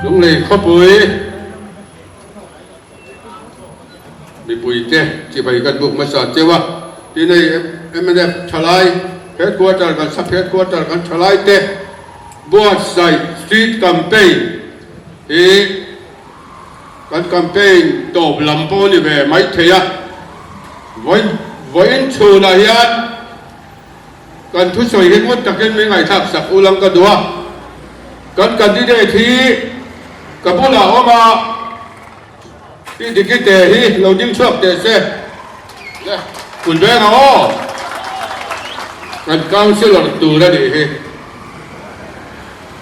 Lunglei khawpui mipui te chi bai kan buk hmasa cheu a, tin a i mnf thalai headquarter kan sub headquarter kan thalai te buatsaih street campaign hi. Kan campaign tawp lam pawh ni ve mai thei a, vawi vawi inchhunah hian kan thusawi hi ngun takin min ngaihthlak sak u lang ka duh a, kan candidate hi ka bulah a awm a, i diki te hi lo ding chhuak teh se, hun veng a aw, kan councillor tur a nih hi.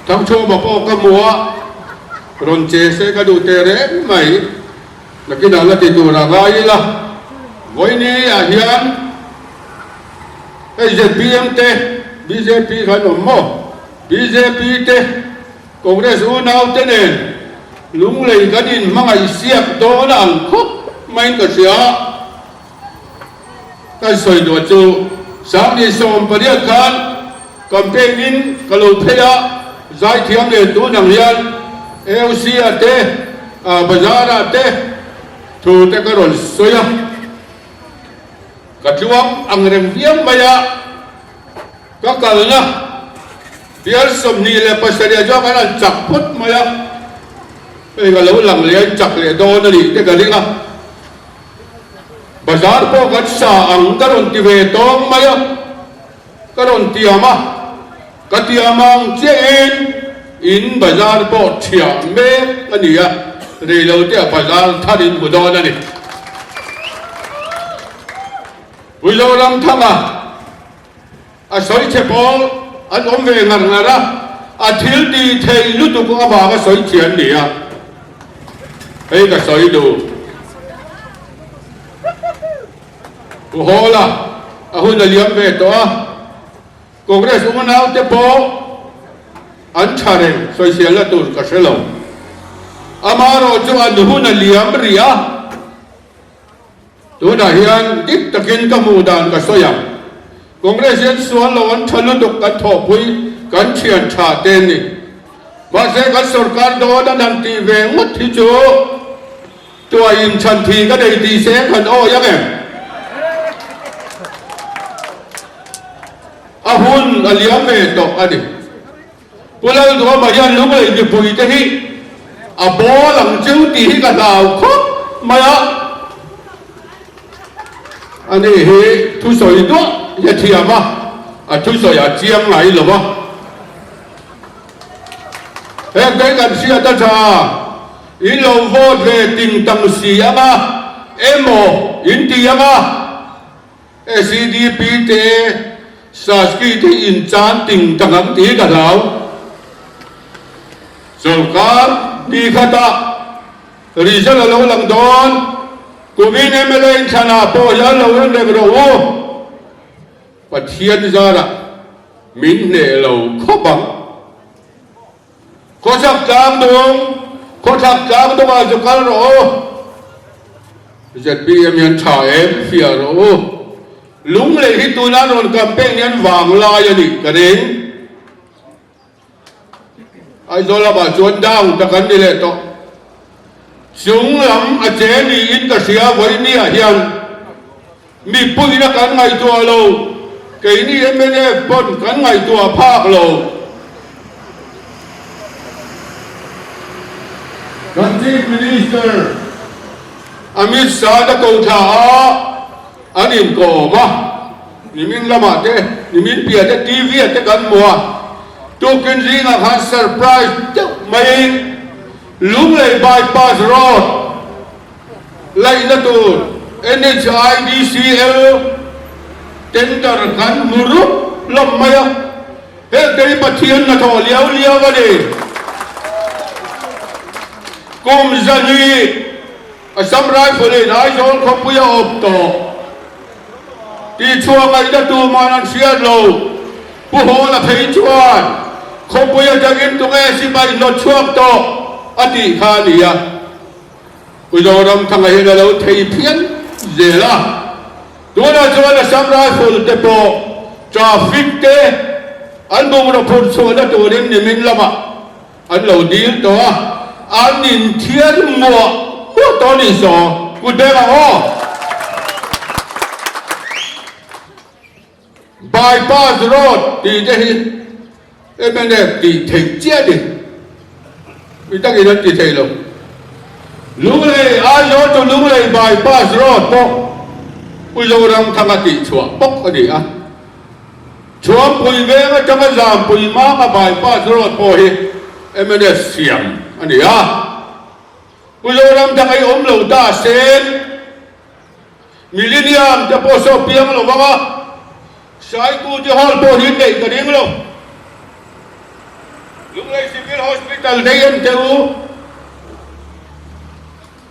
Dang chhawma pawh ka hmu a, rawn che se ka duh teh reng mai. Nakinah la ti tur a ngai ila, Vawinia hian hei zpm te, bjp kha an awm maw? Bjp te, Congress unau te nen lunglei kan inhmangaihsiak dawn a ang khawp maiin ka hria. Ka sawi duh chu Sangni sawm pariat khan campaign in ka lo phei a, zaithiam leh tunah hian AOC ah te, bazar ah te thu te ka rawn sawi a, ka tluang ang reng viau mai a, ka kalna bial sawmhnih leh pasarih chuan ka rawn chak phawt mai a, hei ka lo lang leh a, in chak leh dawn a nih te ka ring a. Bazar pawh kan sa ang ka rawn ti ve tawng mai a, ka rawn tiam a, ka tiam ang chiahin in bazar pawh thiah mek a ni a, reilo te a bazar thar in hmu dawn a ni. Puizolamthanga. A sawichhe pawl an awm ve ngar ngar a, a thilti thei lutuk avanga sawichhe an ni a. Hei ka sawi duh u haw la, a hun a liam ve tawh a, Congress unautte pawh an tha reng sawichhe la tur ka hre lo. Amaherawhchu an hun a liam rih a. Tunah hian dik takin ka hmuh dan ka sawi a, Congress hian sual lo an tha lutuk kan thawhpui kan thian tha te ni. Mahse kan sorkar dawn a dan tih ve ngut hi chu tuai in chhan thi ka nei tih se kan awi ang em? A hun a liam ve tawh a ni. Pu Lalduwa Mai an lunglei mipui te hi a ball ang cheu tih hi ka hlau khawp mai a, anih hi thusawi duah i a thiam a, a thusawi a chiang ngai lo a. Heng te kan hriat a tha, in lo vote ve ting tang si anga emaw in ti anga. SEDP te Sasky te in chan ting tak ang tih hi ka hlau. Sorkar ni khat ah result a lo lang dawn, Kumin mla in thlan ah pawh hian lo en reng rawh u, Pathian zar ah min hneh lo khawp ang. Khawthlak tlang dum, khawthlak tlang dum ah chu kal rawh u. Zpm hian tha em fiah rawh u. Lunglei hi tuna an rawn campaign hian vanglai a nih ka ring. Aizawl lam ah chuan down tak an ni leh tawh. Chunglam a che niin ka hria vawi mi ah hian. Mipuiin a kan ngaihtuah lo, keini MNF pawn kan ngaihtuah phak lo. Kan Chief Minister Amit Shah da ko thla a an inkawm a, nimin lama te, nimin piah te, TV ah te kan hmu a, tukin zingah khan surprise deuh maiin Lunglei Bypass Road, laihna tur NHIDCL tender kan hmu rup lawm mai a, hetei Pathian hnathawh lio lio a ni. Kum zani Assam Rifle in Aizawl khawpui a awp tawh tih chhuah ngaihna tur man an hriat lo, Pu Hawla phei chuan khawpui atangin tunge sipai hnawt chhuak tawh a tih kha a ni a. Udaw Ramthanga hian a lo thei phian zel a, tunah chuan Assam Rifle te pawh traffic te an bungraw phur chhuahna turin nimin lamah an lo dil tawh a, an inthiar muah muah tawh ni saw, kut veng ang aw. Bypass road tih te hi MNF tih theih chiah ni. Mi takin an ti thei lo. Lunglei, Aizawl to Lunglei bypass road pawh Pu Zoram Thang a tih chhuah bawk a ni a. Chhuampui veng atanga Zampui Mama bypass road pawh hi MNF siam a ni a. Pu Zoram Thang ei awm lo ta sen. Millennium te pawh saw piang lo vang a, Saitu te hawl pawh hi neih ka ding lo. Lunglei Civil Hospital dei em teh u,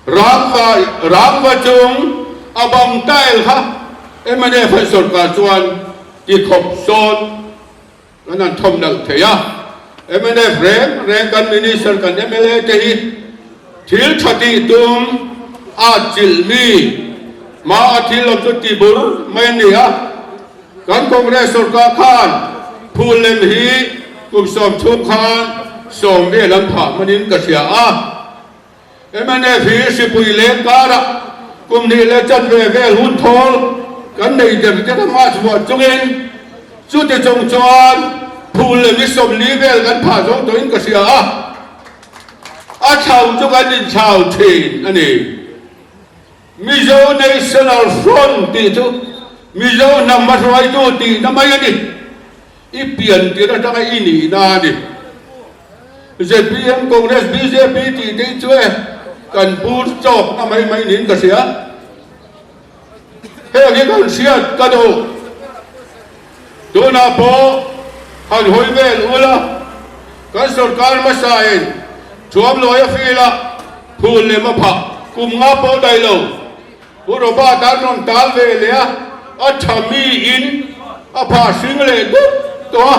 rangva rangva chung a bang tile kha MNF-a sorkar chuan ti khawp sawn. Kan han thawm loh thei a, mnf reng reng kan minister kan mla te hi thil tha tih tum a chilh mi hma a thil lam chu ti bur mai a ni a, kan congress sorkar khan phul lem hi kum sawm chhung khan sawm vel an phah hmanin ka hria a. MNF hi Sipui leng karah kum hnih leh chan ve vel hun thawl kan nei der der a mah chhuah chungin chuti chung chuan phul lem i sawmli vel kan phah zawng tawhin ka hria a, a chhau chu kan inchhau thin a ni. Mizo National Front tih chu Mizo hnam a hruaitu tihna mai a ni. I pian tir atanga i nihna a ni. ZBM, Congress, bjp tih te hi chu e kan bur chawkna mai mai niin ka hria. Heng hi kan hriat ka duh. Tunah pawh han hawi vel ul a, kan sorkar hmasa in thuam lawi a feel a, phul lem a phah. Kum nga pawh daih lo u Robert an rawn tal ve leh a, a tha mi in a pha hring leh dup tawh a.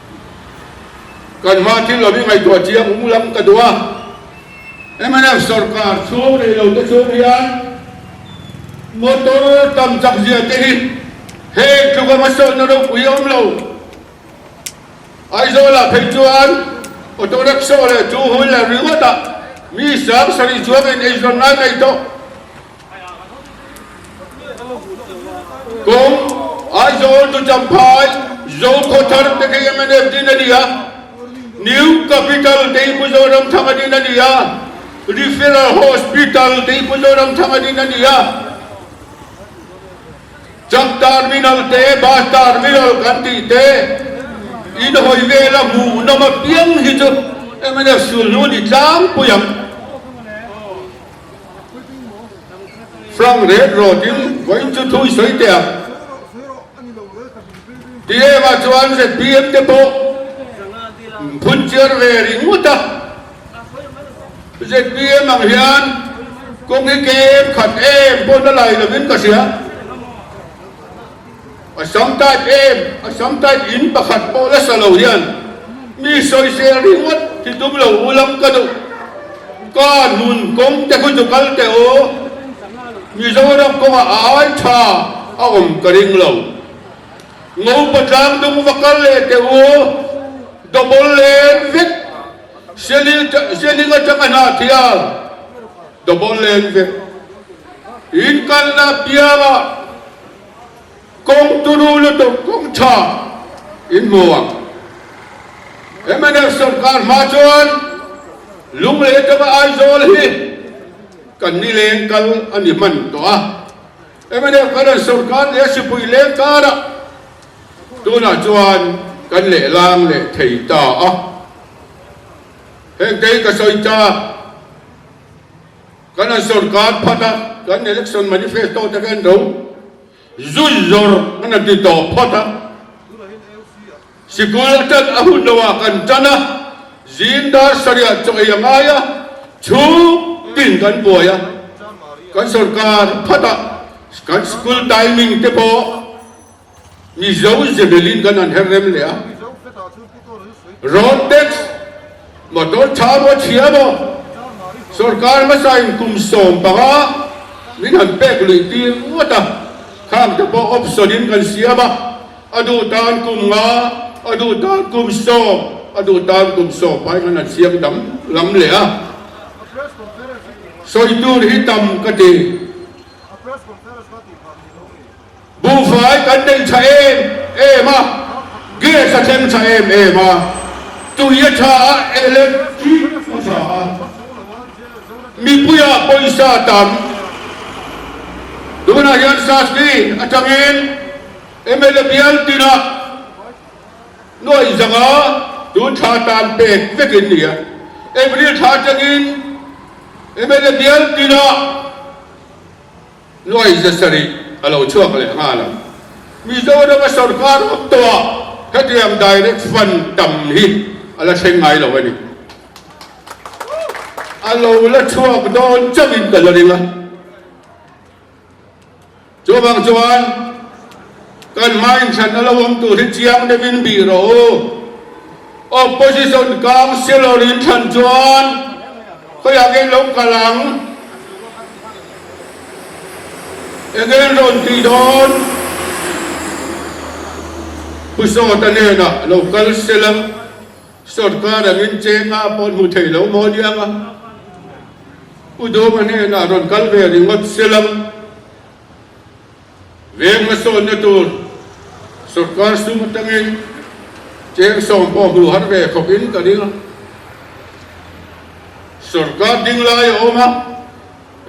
Kan hma thil lo i ngaihtuah chi a um ulah ka duh a. Mnf sorkar chhawng rih lo te chhung hian motor tam chak zia te hi heng tlukam a sawnna ropui a awm lo. Aizawl ah phei chuan auto rickshaw leh two wheeler ringawt ah mi sang sarih chuang in ei zawn ngai mai tawh. Kawng, Aizawl chu Champhai Zokhawt thar te khi mnf din a ni a, New Capital tei Mizoram thanga din a ni a, Referral Hospital tei Mizoram thanga din a ni a, Truck Terminal te Bus Terminal kan tih te inhawi vela hmuh nawm apiang hi chu mnf sulhnu ni tlangpui ang. Frank rêt rawt in vawiin chu thui sawi teh ang. Tm ah chuan zpm te pawh phun chiar ve ring ngawt a. Zpm ang hian kawng hi kem khat em pawh na lai lovin ka hria. A sam type em? A sam type in pakhat pawh la sa lo hian mi sawi zel ringawt ti tum lo u lam ka duh. Car hun kawng te huchu kal teh aw. Mizoram kawngah a ai tha a awm ka ring lo. Ngopa tlang dung va kal leh teh u. Dobol leng vek. Sialing sialing atanga hna thia dobol leng vek. In kalna piangah. Kawng turu lutuk kawng tha in hmu a. Mnf sawrkar hma chuan lung leh tanga Aizawl hi kan ni leng kal a ni hman tawh a. Mnf current sawrkar leh sipui leng kar ah tunah chuan kan lehlang leh thei ta a. Heng tei ka sawi ta. Kan an sorkar phat a, kan election manifesto te kan do zui zawr a na ti tawh phawt a. Sikul a tat a hun loah kan tan a, zindar sarih chaw ei a ngai a, chhuk tin kan buai a. Kan sorkar phat a, kan school timing te pawh. Mizo Javelin gun an her rem leh a, Road tax, Motor chhar rua chhia maw, sawrkar hmasa in kum sawm panga min han pek luih tir ruat a, khang te pawh option in kan siam a, a duh tan kum nga, a duh tan kum sawm, a duh tan kum sawm pai khan an siam dam lam leh a, sawi tur hi tam ka ti. Buhfai kan nei tha em em a, gas a thleng tha em em a, tui a tha a, electric a tha a, mipuia pawisa a tam. Tunah hian Sasni atangin mla bial tina nuai zanga tun thla tan pek vekin ni a, April thla atangin mla bial tina. Nuai za sarih a lo chhuak leh nghal ang. Mizorama sorkar awm tawhah hetiang direct fund tam hi a la hreng ngai lo a ni. A lo la chhuak dawn chauhin ka la ring a. Chuvang chuan. Kan hma inthlanna lo awm tur hi chiang deuhin bih rawh u. Opposition Councillor in thlan chuan khawi ah keng lo kal ang. Again rawn ti dawn Pusawta nena lo kal se la, sorkar ang in cheng nga pawh hmu thei lo maw diang a. Udawma nena rawn kal ve ringawt se la. Veng hmasawnna tur sorkar sum atangin chengsawm pawh hmu har ve khawpin ka ring a. Sorkar ding lai a awm a,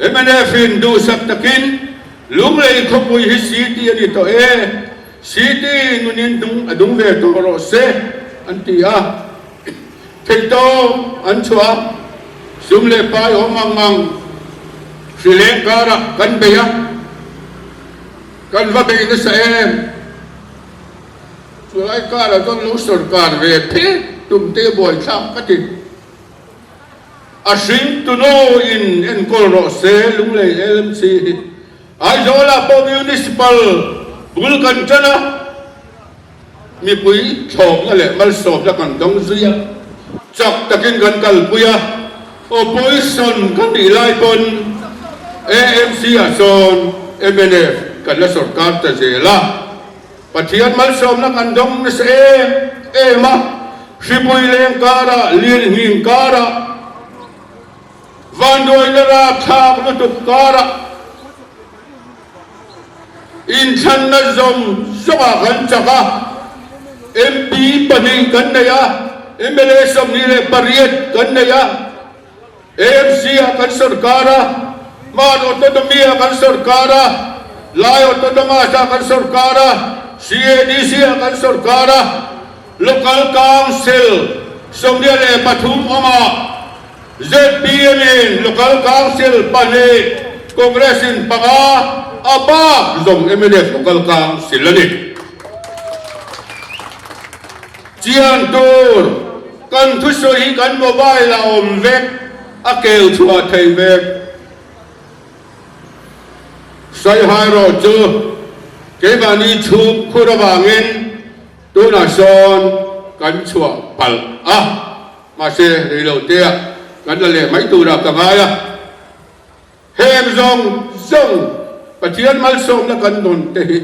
MNF-in duhsak takin Lunglei khawpui hi CT a ni tawh e, CT nunin hnung a dung ve tawh rawh se, an ti a. Theito an chhuah a, sum leh pai awm ang ang hri leh karah kan bei a, kan va bei nasa em? Chulai karah chuan lo sawrkar ve phek tum te buai thlak ka ti. A hring tunawin enkawl rawh se Lunglei LMC hi Aizawla pawh municipal bul kan chan a. Mipui thlawmna leh malsawmna kan dang zui a, chak takin kan kalpui a, opposition kan nih lai pawn ANC ah sawn mnf kan la sawrkar ta zel a, Pathian malsawmna kan dang nasa em em a, hripui leng karah, lianhning karah, vanduaina rapthlak lutuk karah. Inthlanna zawng zawngah kan chak a, MP pahnih kan neih a, mla sawmhnih leh pariat kan neih a, AMC ah kan sorkar a, hmaan autonomy ah kan sorkar a, Lai autonomous ah kan sorkar a, CADC ah kan sorkar a. Local Council Somlia leh pathum awmah zpm in Local Council pahnih, Congress in panga a bak zawng mlf Local Council a ni. Chian tur kan thusawi hi kan mobile ah awm vek a kel chhuah thei vek. Sawihaerawh chu keimahni chhuk khur avangin. Tunah sawn kan chhuah palh a, mahse reilo te ah kan la leh mai turah ka ngai a. Heng zawng zawng Pathian malsawmna kan dawn te hi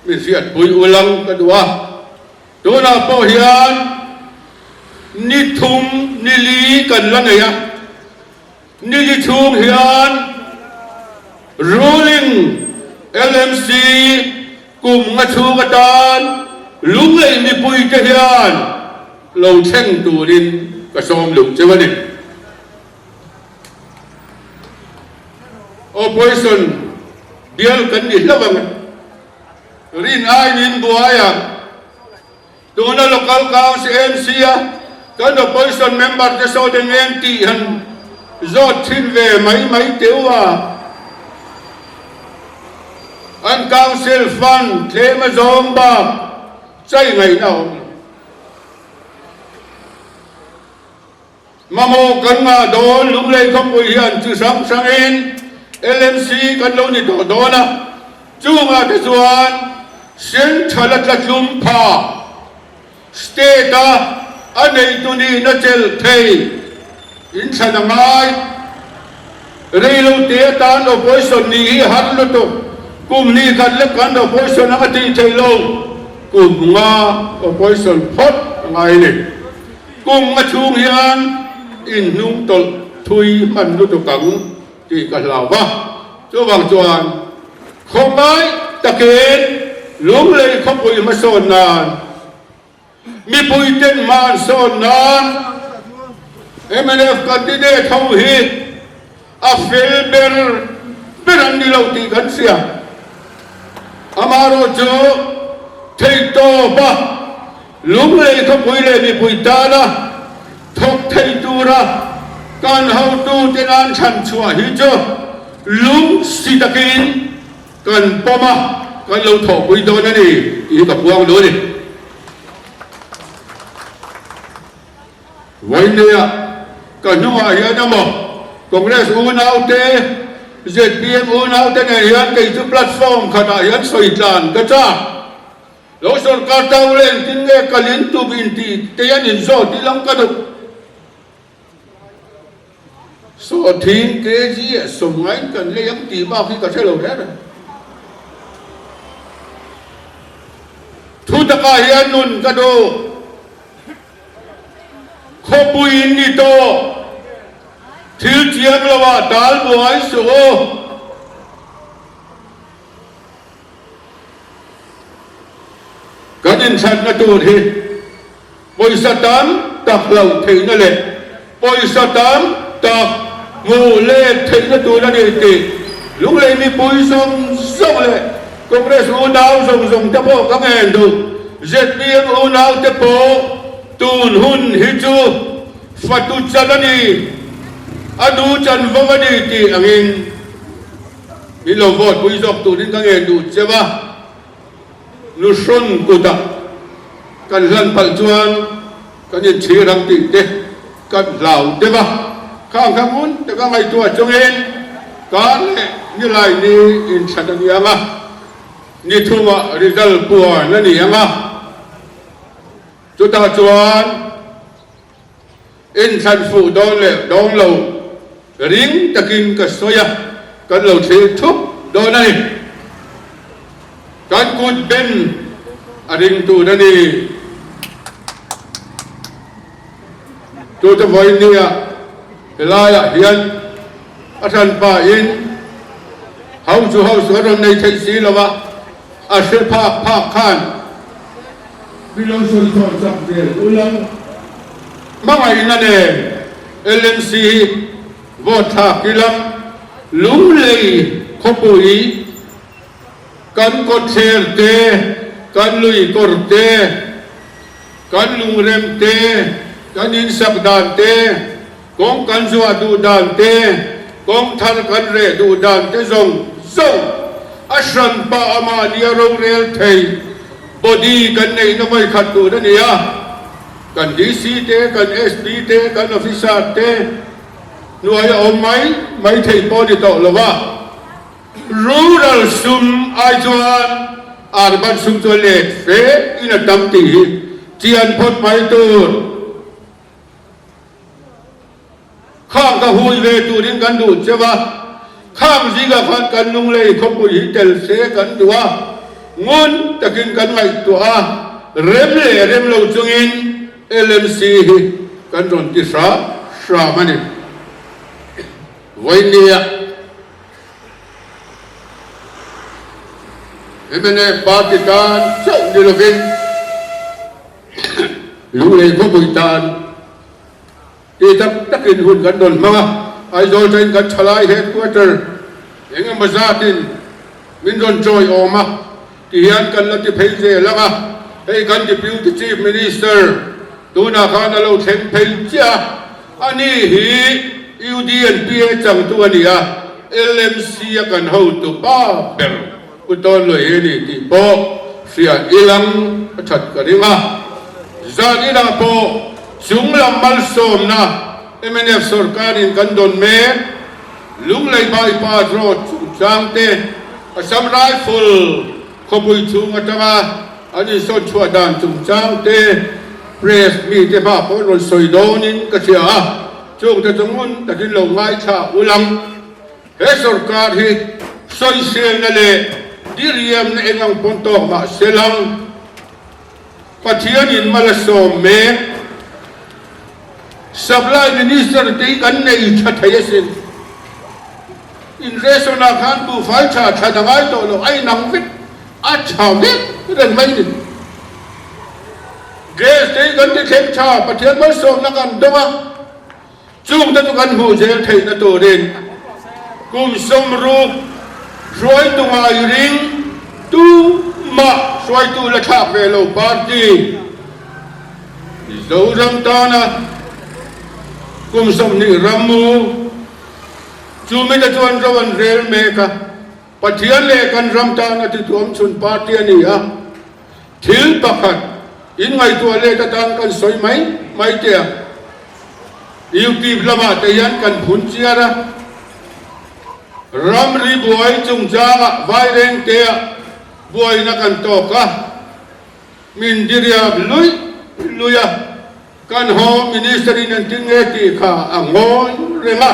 mi ziatpui ulang ka duh a, tunah pawh hian ni thum ni li kan la nei a. Nili chhung hian Ruling lmc kum nga chhung atan Lunglei mipui te hian lo thleng turin ka sawm lo cheu a ni. Opposition bial kan ni hlauh ang. Rin ainin buai ah. Tuna Local Council, MC, a kan Opposition Member te saw deng eng tih han zawt chhin ve mai mai teu a, an Council Fund thlem a zawm bak chai ngaihna a awm lo. Mamawh kan ngah dawn, lunglei khawpui hian chi hrang hrangin LMC kan lo ni tawh dawn a, chungah te chuan Central a tlatlum pha, State-a a neitu nihna chel thei in thlan a ngai. Reilo te atan opposition nih hi har lutuk, kum hnih khat lek kan opposition anga tih theih lo, kum hmunga opposition phawt a ngai a ni. Kawng a chhung hian inhnung tawlh thui hman lutuk ang tih ka hlau va, chuvang chuan khawmai takin lunglei khawpui hma sawn nan, mipui ten hma an sawn nan mnf candidate ho hi, A fel ber ber an ni lo tih kan hria. Amaherawh chu Theitawpa lunglei khawpui leh mipui tana thawk thei tura kan hotute nan chhan chhuah hi chu lung si takin kan pawm a, kan lo thawhpui dawn a ni tih hi ka puang dawn a ni. Vawinleia ka hnungah hian amaw Congress unaute, zpm unaute nen hian kei chu platform khatah hian sawi tlan ka chak. Lo sawrkar tau le engtin nge kalin tuk inti te hian in zawt dihlawm ka duh. Saw thing kg ah saw ngain kan lei ang tih bak hi ka hrelo ber a. Thu taka hian nun ka dawk, khawpui in ni tawh, thil chiang lo ah tal buai suh aw. Kan inchhanna tur hi pawisa tam tak hlo theihna leh pawisa tam tak hmuh let theihna tur a ni tih Lunglei mipui zawng zawng leh Congress unau zawng zawng te pawh ka ngen duh. Zrm unau te pawh tun hun hi chu Fatuchan a ni, a Nuchan vawng a ni tih angin, I lo vote pui zawk turin ka ngen duh cheu a, nu hrawn kutah kan hlan palh chuan kan inthi rang tih te kan hlau deuh a, kha ang kha ngun taka ngaihtuah chungin ka leh nilai ni inchhat a ni ang a, ni thuma result puan a ni ang a, chutah chuan. Inthlan fuh dawn leh dawn lo ring takin ka sawi a, kan lo thlir thup dawn a ni. Kan kut ben a ring tur a ni. Tute vawi nia helaiah hian a hranpa in hau chu hau chu a rawn nei theih si lo a. A hre phak phak khan mi lo sawi chhuak chak zel u lo. Hmangaihna nen LMC hi vote thlak i lam lunglei khawpui kan kawtthler te, kan lui kawr te, kan lungrem te, kan insak dan te, Kawng kan zuah duh dan te, kawng thar kan reh duh dan te zawng zawng a hran pah a mahni a rongrel thei body kan neih nawmai khat dun a ni a. Kan DC te, kan SP te, kan officer te hnuai a awm mai mai thei pawh a ni tawh lo a. Rural sum ai chuan urban sum chuan let fe in a tam tih hi chian phawt mai tur. Khang ka hui ve turin kan duh cheu a, khang zingah khan kan nunglei khawpui hi tel se kan duh a, ngun takin kan ngaihtuah a, rem leh rem lo chungin LMC hi kan rawn ti hram hram a ni. Vawinia MNA party tan chauh ni lovin. Luh leh khawpui tan ti tak takin hun kan rawn hmang a, Aizawl ṭahin kan thalai headquarter eng emaw zatin min rawn chawi awm a ti hian kan la ti phei ve lak a, hei kan Deputy Chief Minister tunah khan a lo thleng phei chiah a, a ni hi UDNP-a changtu a ni a, LMC-a kan hotupa ber. U Tawnlei a ni tih pawh hria i lang that ka ring a, zan inah pawh chunglam malsawmna mnf sawrkarin kan dawn mek, Lunglei Baipa Road chungchang te, Assam Rifle khawpui chhung atanga an insawn chhuah dan chungchang te, Press mite hma pawh rawn sawi dawnin ka hria a, chungte chu ngun takin lo ngaithla u lang. He sorkar hi sawiselna leh tiriamna eng ang pawn tawk mah se lang, Pathian in mal a sawm mek. Supply Minister te hi kan nei tha thei a sin. In ration ah khan buhfai tha tha ta ngai tawh lo, a inang vek a tha vek reng mai ni. Gas te hi kan ti thleng tha, Pathian malsawmna kan dawng a. Chung te chu kan hmuh zel theihna turin kum sawm ruk hruaitu ngai ring tu mah hruaitu la thlak ve lo party Mizoram tana kum sawm nih ram mu chu mite chuan ro an rel mek a. Pathian leh kan ram tan a ti tuam chhun party a ni a, thil pakhat in ngaihtuah let atan kan sawi mai mai tia Ukip lamah te hian kan phun chiar a, ram ri buai chung changah vai reng tea buaina kan tawk a, min diriap luih luih a. Kan Home Minister-in an tin nge tih kha a ngawi reng a,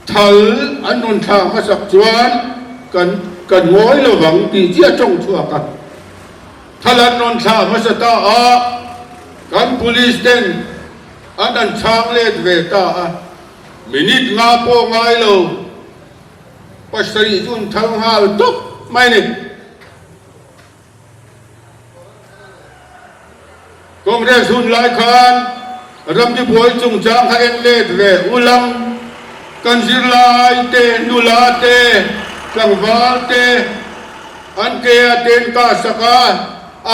thal an rawn thlah hmasak chuan kan kan ngawi lo vang tih chi a tawng chhuak a. Thal an rawn thlah hmasa ta a, kan Police ten an an chhang let ve ta a, minute nga pawh ngai lo, pasarih chu an thal nghal tawp mai ni. Congress hun lai khan ramri buai chungchang kha en let reh u lam, kan zirlai te, nula te, tlangval te an ke a ten kah sak a,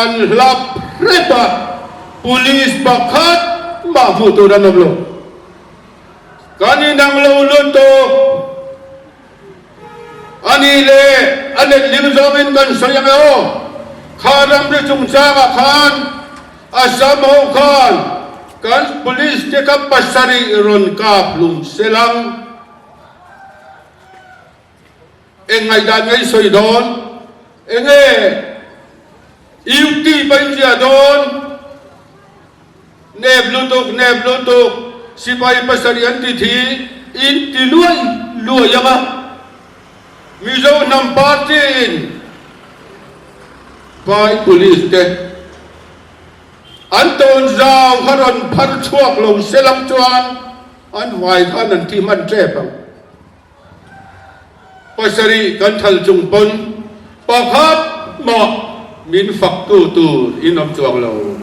an hlap hrep a, police pakhat mah hmuh tur an awm lo. Kan inang lo lutuk. A ni le a let lim zawngin kan sawi ang emaw? Kha ramri chung changah khan a sam ho khan kan police te kha pasarih rawn kap lum sel ang. Eng ngaihdan ngei sawi dawn? Enge u tih pawh i zia dawn? Nep lutuk, nep lutuk, sipai pasarih an ti thi i ti luai luai ang a, Mizo hnam party in vai police te an tawnzau kha rawn phar chhuak lo se lam chuan an vai khan an thim an tep ang. Pasarih kan thal chung pawn pakhat mah min faktu tur in awm chuang lo.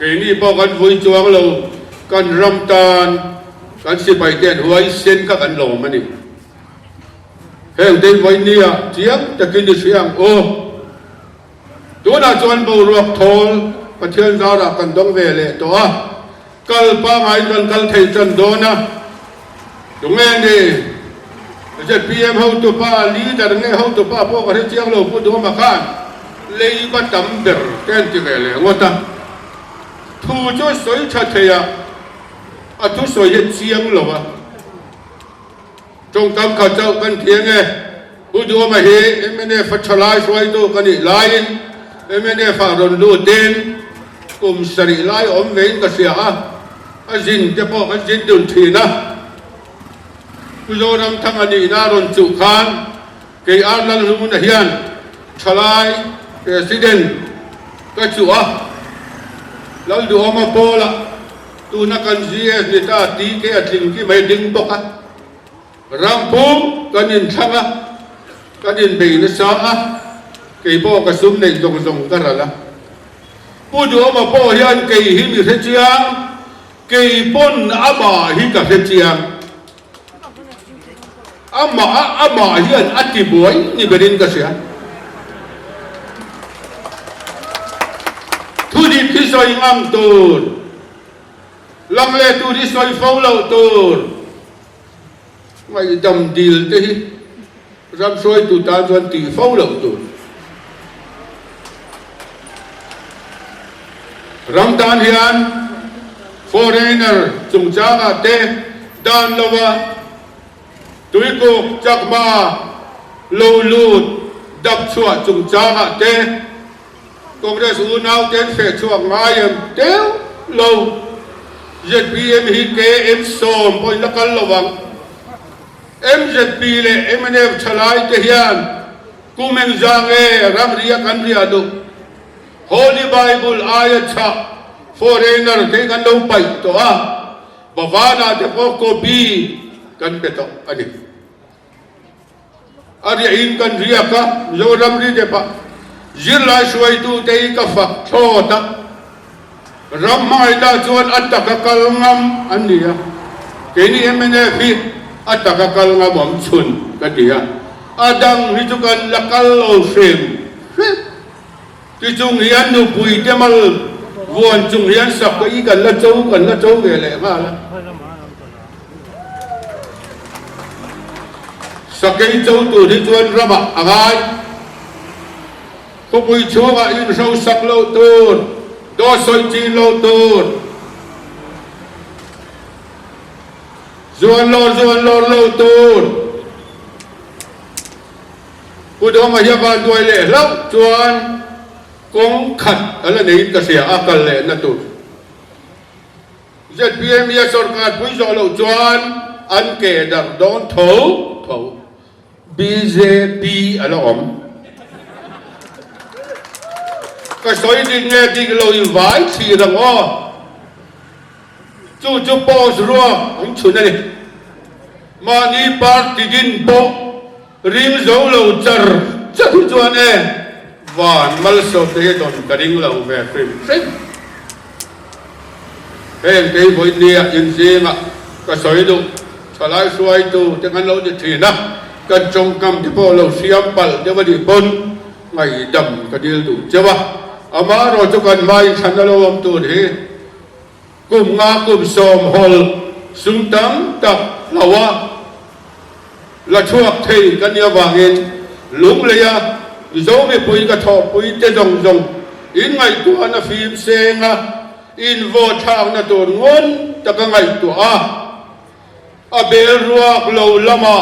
Keini pawh kan vui chuang lo, kan ram tan kan sipai ten huai sen kha kan lawm a ni. Heng Deivaini ah chiang takin i hria ang aw. Tunah chuan boruak thawl Pathian zarah kan dawng ve leh tawh a, kal pangai kan kal thei chan dawn a. Tunge ni? Zpm hotu pa, leader nge hotu pa pawh ka hre chiang lo pu duh ama khan leiba tam ber te an ti ve leh ngawt a. Thu chu sawi tha thei a, a thusawi hi a chiang lo a. Tawngtam kha chauh kan ti enge? Pu Duama hi mnf a thalai hruaitu ka nih laiin mnf ah rawn lut in kum sarih lai a awm ve in ka hria a, a zin te pawh kan zin dun thin a. Pu Zoramthanga nihna rawn chuh khan. Kei ar lal lunguna hian thalai president ka chuh a, lal duhawma pawla tuna kan GS ni ta ti te a tling ki mai ding bawk a, rampum kan in thlang a, kan in bei nasa a, kei pawh ka sum neih zawng zawng ka ral a. Pu duhawma pawh hian kei hi mi hrechiang, kei pawn a mah hi ka hrechiang. Amah a amah hian a ti buai ni berin ka hria. Thudi phi sawi ngang tur, langle tur i sawi fo loh tur, ngaidam dil te hi. Ram hruaitu tan chuan tih fo loh tur ram tan hian foreigner chungchanga te dan lo a, tuikuk chak hma lo lut dap chhuah chungchanga te Congress unau ten feh chhuak ngai em deuh lo. Zpm hi KM sawm pawhin la kal lo ang. Mzp leh Mnf thalai te hian kum eng zang nge ramri a kan riah duh? Holy Bible aia chhah foreigner te kan lo paih tawh a, Bhavana te pawh copy kan pe tawh a ni. A riah in kan riak a, Mizo ramri depah zirlai hruaitu te i ka fak thlawt a. Ramhmai lah chuan a taka kal ngam an ni a, keini MNF hi a taka kal ngam awm chhun ka ti a, a dang hi chu kan la kal lo hrem hrep. Ti chung hian nupui te mal vuan chung hian sak pawh i kan la cho kan la cho ve leh nghal a. Sakei cho tur hi chuan ramah a ngai. Khawpui chhungah in hrosak loh tur, daw sawi tir loh tur, zuan lawr zuan lawr loh tur, kut awm a hiavah duai leh hlauh chuan kawng khat a la neiin ka hria a kal leh na tur. ZPM-ia sawrkar pui zawh loh chuan an ke darh dawn tho tho. Bjp a la awm. Ka sawi dik nge dik lo i vai chhir ang aw. Chu chu post ruak awm chhun a ni. Mahni party din pawh ring zo lo char char hi chuan e. Van Malsawte hi dawn ka ring lo ve hrim hrim. Heng keimawih nia inzinga ka sawi duh, Thalai hruaitu te kan lo ni thin a, kan chawngkam te pawh lo hriam palh deuh a nih pawn, ngaihdam ka dil duh che va. Amah erawh chu kan hmai inthlan a lo awm tun hi kum nga kum sawm hawl sum tam tak hlau a, la chhuak thei ka nia vangin Lungleia Mizo mipui ka thawhpui te zawng zawng in ngaihtuahna fim seng a in vote thlakna tur ngawn taka ngaihtuah a, a bel ruak lo lama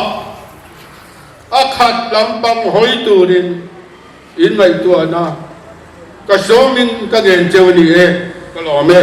a khat lampang hawi turin in ngaihtuahna ka sawmin ka ngen che u ni e ka lawm e.